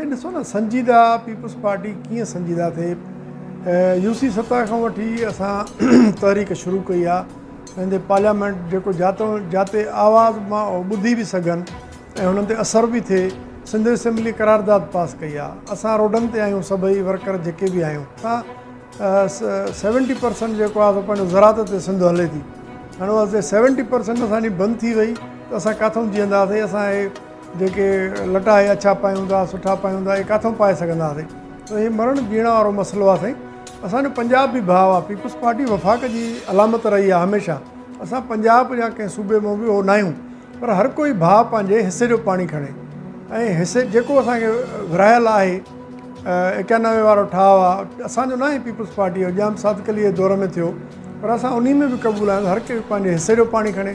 سائين ڏسو نه سنجيده پيپلز پارٽي ڪيئن سنجيده ٿئي يو سي سطح کان وٺي اسان تحريڪ شروع ڪئي آ پنهنجي پارليامينٽ جيڪو جاتو جاتي آواز مان ٻڌي به سگهن ۽ انهن تي اثر به ٿئي سنڌ اسيمبلي قرارداد پاس ڪئي آ اسان روڊن تي آهيون سڀئي ورڪر جيڪي به آهيون اسان سيونٽي پرسنٽ جيڪو آ سو پنهنجو زراعت تي سنڌ هلي ٿي هاڻي سيونٽي پرسنٽ اسان جي بند ٿي وئي ته اسان ڪاٿو جيئنداسين اسان جيڪي لٽا اهي اڇا پايون ٿا سٺا پايون ٿا اهي ڪاٿو پائي سگهنداسين سو هي مرڻ جيئڻ وارو مسئلو آهي سائين اسان جو پنجاب بي ڀاء آهي پيپلز پارٽي وفاق جي علامت رهي آهي هميشه اسان پنجاب جا ڪنهن صوبي مون به هو نه آهيون پر هر ڪوئي ڀاء پنهنجي حصي جو پاڻي کڻي ۽ حصي جيڪو اسان کي ورهايل آهي اڪيانوي وارو ٺاهه آهي اسان جو نه آهي پيپلز پارٽي جو ڄام صادق علي جي دور ۾ ٿيو پر اسان انهي ۾ به قبول آهيون هر ڪوئي پنهنجي حصي جو پاڻي کڻي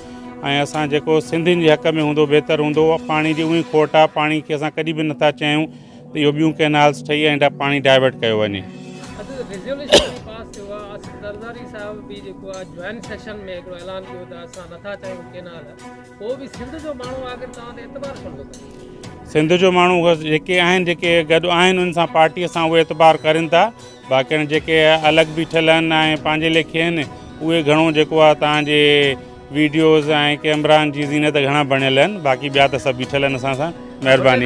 ۽ اسان جيڪو سنڌين جي حق ۾ هوندو بهتر هوندو پاڻي جي اوهين کوٽ آ پاڻي کي اسان ڪڏي به نٿا چاهيون ته اهو ٻيون ڪينالز ٺهي ۽ پاڻي ڊائيورٽ ڪيو وڃي. اڄ ريزوليوشن به پاس ٿيو آ آصف زرداري صاحب به جيڪو آ جوائنٽ سيشن ۾ هڪڙو اعلان ڪيو ته اسان نٿا چاهيون ڪينال پوء به سنڌ جو ماڻهو آخر توهان تي اعتبار ڇو نٿو ڪري سنڌ جو ماڻهو جيڪي آهن جيڪي گڏ آهن ان سان پارٽي سان اهي اعتبار ڪرين ٿا. باقين جيڪي الڳ بيٺل آهن ۽ پنهنجي ليکي آهن اهي گهڻو جيڪو آهي توهان جي ويڊيوز ۽ ڪيمرائن جي زينت گهڻا بڻيل آهن باقي ٻيا ته سڀ بيٺل آهن اسان سان مهرباني.